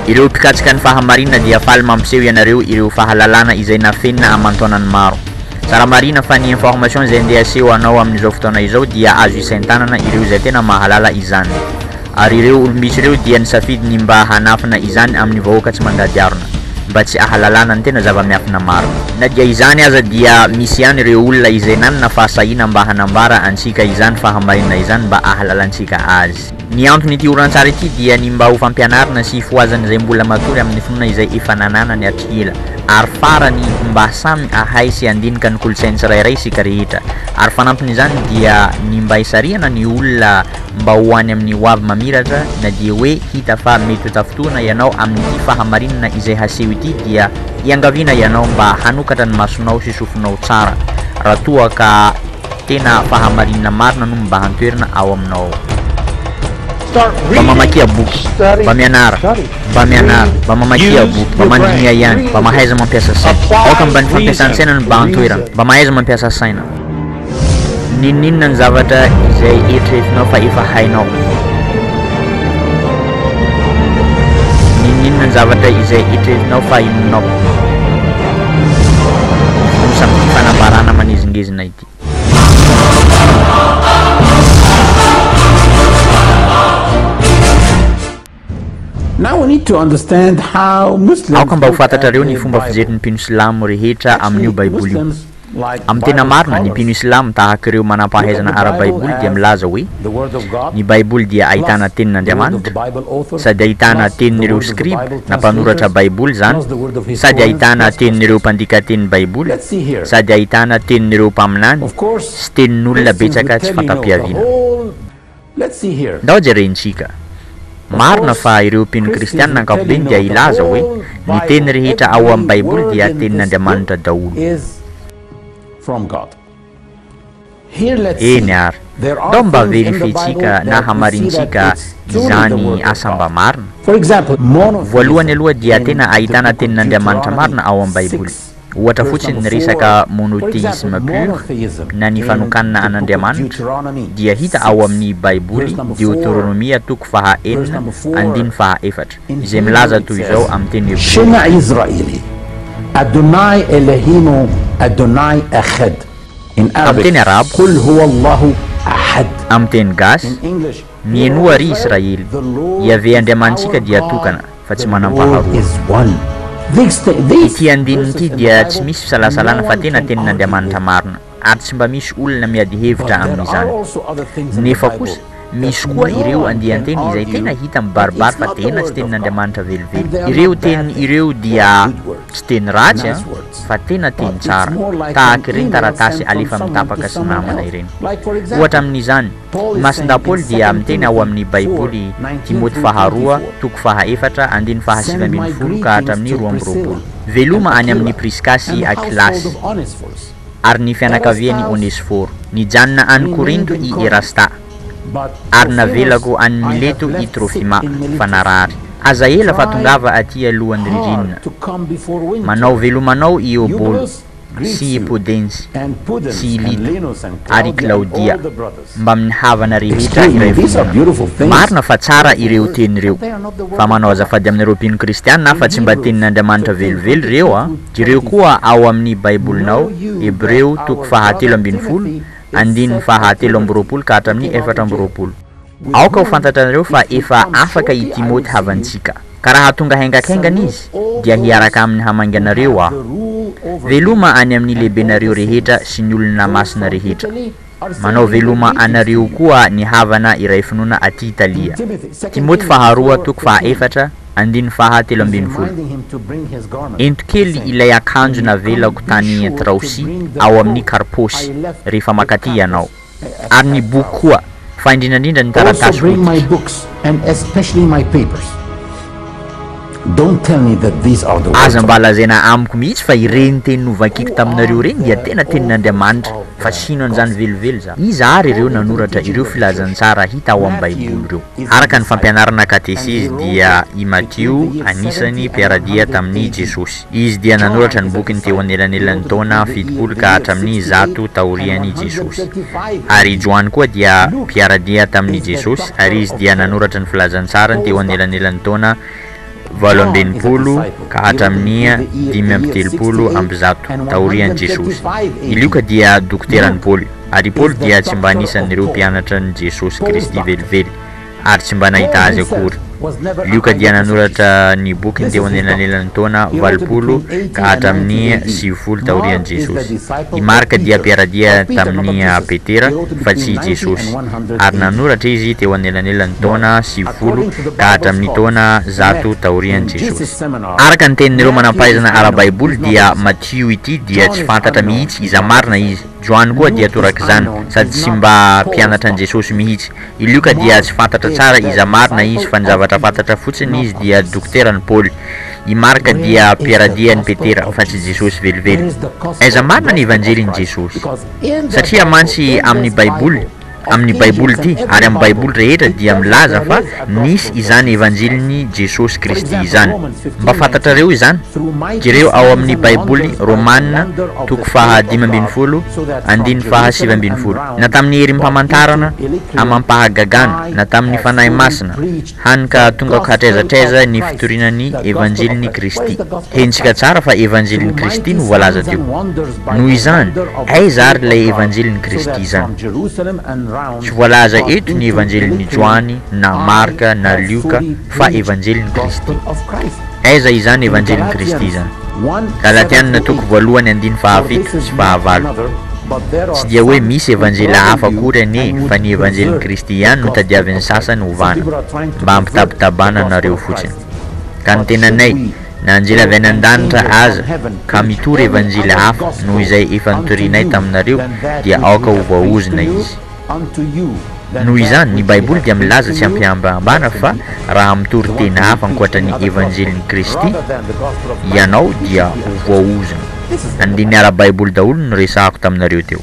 Ireo mpikatsika ny fahamarina dia faly mampiseho ianareo ireo fahalalana izay nafenina aman-taonany maro. Tsara marina fa ny information izay ndeha aseho anao amin'izao fotoana izao dia azo isain-tanana ireo izay tena mahalala izany. Ary ireo olom-bitsy ireo dia nisafidy ny mba hanafina izany amin'ny vahoaka tsy mandady arona, mba tsy ahalalana ny tena zava-miafina marina. Na dia izany aza dia misy ihany ireo olona izay nanana fahasahiana mba hanambara antsika izany fahamarinana izany mba ahalalantsika azy. Ny anton'ity horonantsary ity dia ny mba ho fampianarana sy hifohazan'izay mbola matory amin'ny finoana izay efa nananany hatry ela. Ary farany, mba samy hahay sy handinika ny kolontsain'ny tsirairay isika rehetra. Ary fanampin'izany dia ny mba hisarihana ny olona mba ho any amin'ny hoavy mamiratra na dia hoe hita fa mety ho tafintohina ianao amin'ity fahamarinana izay haseho ity dia iangaviana ianao mba hanokatra ny masonao sy sofinao tsara raha toa ka tena fahamarinana marina no mibahan-toerana ao aminao. Mba mamakia boky, mba mianara, mba mianara, mba mamakia boky, mba mandinia ihany, mba mahaiza mampiasa saina. Aoka mba ny fampiasan-tsaina no mibahan-toerana, mba mahaiza mampiasa saina. N'inon'inona ny zavatra izay eritreretinao fa efa hainao. N'inon'inona ny zavatra izay eritreretinao fa inonao. Nosy amin'ity fanambarana manezingezina ity. Aoka mba ho fantatrareo ny fomba fijerin'ny mpino silamo rehetra amin'io Baiboly io. Amin'ny tena marina, ny mpino silamo, tahaka ireo manam-pahaizana ara-baiboly, dia milaza hoe ny Baiboly dia ahitana Tenin'Andriamanitra, sady ahitana tenin'ireo skriba na mpanoratra Baiboly izany, sady ahitana tenin'ireo mpandika teny Baiboly, sady ahitana tenin'ireo mpaminany, sy tenin'olona betsaka tsy fanta-piaviana. Let's see here. Ndao jerentsika. Marina fa ireo mpino kristianina ankapobeny dia hilaza hoe ny teny rehetra ao amin'ny Baiboly dia tenin'Andriamanitra daholo. Eny ary. Ndao mba verifientsika na hamarintsika izany asa mba marina. Voalohany aloha dia tena ahitana tenin'Andriamanitra marina ao amin'ny Baiboly. Ohatra fotsiny ny resaka monothéisme pur na ny fanokanana an'Andriamanitra dia hita ao amin'ny Baiboly Deoteronomia toko faha enina andininy faha efatra izay milaza toy izao amin'ny teny hebreo hoe. Shema Israeli, Adonai Elohinu Adonai Echad, in Amin'ny Arabic, teny arabo, Qul Huwa Allahu Ahad, Amin'ny teny gasy, in English, Mienoa, ry Israely, Yaveh Andriamanitsika dia tokana. fa tsy manam-paharoa. Ity andininy ity dia tsy misy fisalasalana fa tena tenin'Andriamanitra marina, ary tsy mba misy olona miady hevitra amin'izany. Nefa kosa, misy koa ireo andian-teny izay tena hita mibaribary fa tena tsy tenin'Andriamanitra velively. Ireo teny ireo dia tsy teny ratsy an, fa tena teny tsara, tahaka ireny taratasy alefa amin'ny tapaka sy namana ireny. Ohatra amin'izany, Ny Masindahy Paoly dia miteny ao amin'ny Baiboly Timoty Faharoa, toko faha efatra, andininy faha sivy ambin'ny folo ka hatramin'ny roa amby roapolo, Veloma any amin'i Priska sy Akilasy, ary ny fianakavian'i Onesiforo. Nijanona any Korinto i Erasta, ary navelako any Mileto i Trofima, fa narary. Aza ela fa tongava atỳ alohan'ny ririnina. Manao veloma anao i Eobola. sy i Pudensi sy i Lito ary i Claudia mbamin'ny havana rehetra iray vondrona. Marina fa tsara ireo teny ireo, fa manao azafady aminareo mpino kristiana aho fa tsy mba tenin'Andriamanitra velively ireo a! Jereo koa ao amin'ny Baibolinao, Hebreo toko fahatelo ambin'ny folo, andininy fahatelo amby roapolo ka hatramin'ny efatra amby roapolo. Aoka ho fantatranareo fa efa afaka i Timoty havantsika, ka raha tonga haingankaingana izy, dia hiaraka aminy hamainganareo aho. Veloma any amin'ny lehibenareo rehetra sy ny olona masina rehetra. Manao veloma anareo koa ny havana iray finoana aty Italia. Timoty faharoa toko fahaefatra andininy faha telo ambin'ny folo. Ento kely ilay akanjo navelako tany Traosi ao amin'ny Karposy, rehefa makaty ianao. ary ny boky koa, fa indrindra indrindra ny taratasy fototra. Aza mba lazaina amiko mihitsy fa ireny teny novakiko taminareo ireny dia tena tenin'Andriamanitra, fa sino an'izany velively za. Iza àry ireo nanoratra ireo filazantsara hita ao amin'ny Baiboly ireo? Araka ny fampianarana katesezy, dia i Matio anisany mpiara-dia tamin'i Jesosy. Izy dia nanoratra ny bokiny teo anelanelan'ny taona fitopolo ka hatramin'ny zato taorian'i Jesosy. Ary i Joany koa dia mpiara-dia tamin'i Jesosy, ary izy dia nanoratra ny Filazantsarany teo anelanelan'ny taona valo amby enimpolo ka hatramin'ny dimy amby telopolo amby zato taorian'i Jesosy. I Lioka dia dokoteran'i Paoly, ary i Paoly dia tsy mba anisan'ireo mpianatran'i Jesosy Kristy velively. ary tsy mba nahita azy akory. Lioka dia nanoratra ny bokiny teo anelanelan'ny taona valopolo ka hatramin'ny sivifolo taorian'i Jesosy. I Marka dia mpiara-dia tamin'i Petera fa tsy i Jesosy, ary nanoratra izy teo anelanelan'ny taona sivifolo ka hatramin'ny taona zato taorian'i Jesosy. Araka ny tenin'ireo manam-pahaizana ara-baiboly dia Matio ity dia tsy fantatra mihitsy iza marina izy. Joany koa dia torak'izany, sady tsy mba mpianatr'an'i Jesosy mihitsy. I Lioka dia tsy fantatra tsara iza marina izy fa ny zavatra fantatra fotsiny izy dia dokotera an'i Paoly. I Marka dia mpiaradia an'i Petera fa tsy Jesosy velively. Aiza marina ny Evanjelin'i Jesosy? Satria mantsy amin'ny Baiboly, amin'ny Baiboly ity ary amin'ny Baiboly rehetra dia milaza fa nisy izany Evanjelin'i Jesosy Kristy izany. Mba fantatrareo izany? Jereo ao amin'ny Baiboly Romana toko faha dimy ambin'ny folo, andininy faha sivy ambin'ny folo. na tamin'ny herim-pamantarana amam-pahagagana, na tamin'ny Fanahy Masina, hany ka tonga ka hatraiza hatraiza ny fitoriana ny Evanjelin'i Kristy. Henontsika tsara fa Evanjelin'i Kristy no voalaza teo. Noho izany, aiza àry ilay Evanjelin'i Kristy izany? Tsy voalaza eto ny Evanjelin'i Joany, na Marka, na Lioka, fa Evanjelin'i Kristy. Aiza izany Evanjelin'i Kristy izany? Galatianina toko voalohany andiny fahafito sy fahavalo. Tsy dia hoe misy Evanjely hafa akory anie fa ny Evanjelin'i Kristy ihany no tadiavin'ny sasany hovana, mba hampitabitabana anareo fotsiny. Ka ny tenanay, na anjely avy any an-danitra aza ka mitory Evanjely hafa noho izay efa notorinay taminareo dia aoka ho voaozona izy. unto you that Noho izany, ny Baiboly dia milaza tsy am-pihambahambana fa raha mitory tena hafa ankoatra ny Evanjelin'i Kristy ianao dia ho voaozona. Andininy ara-baiboly daholo ny resahako taminareo teo.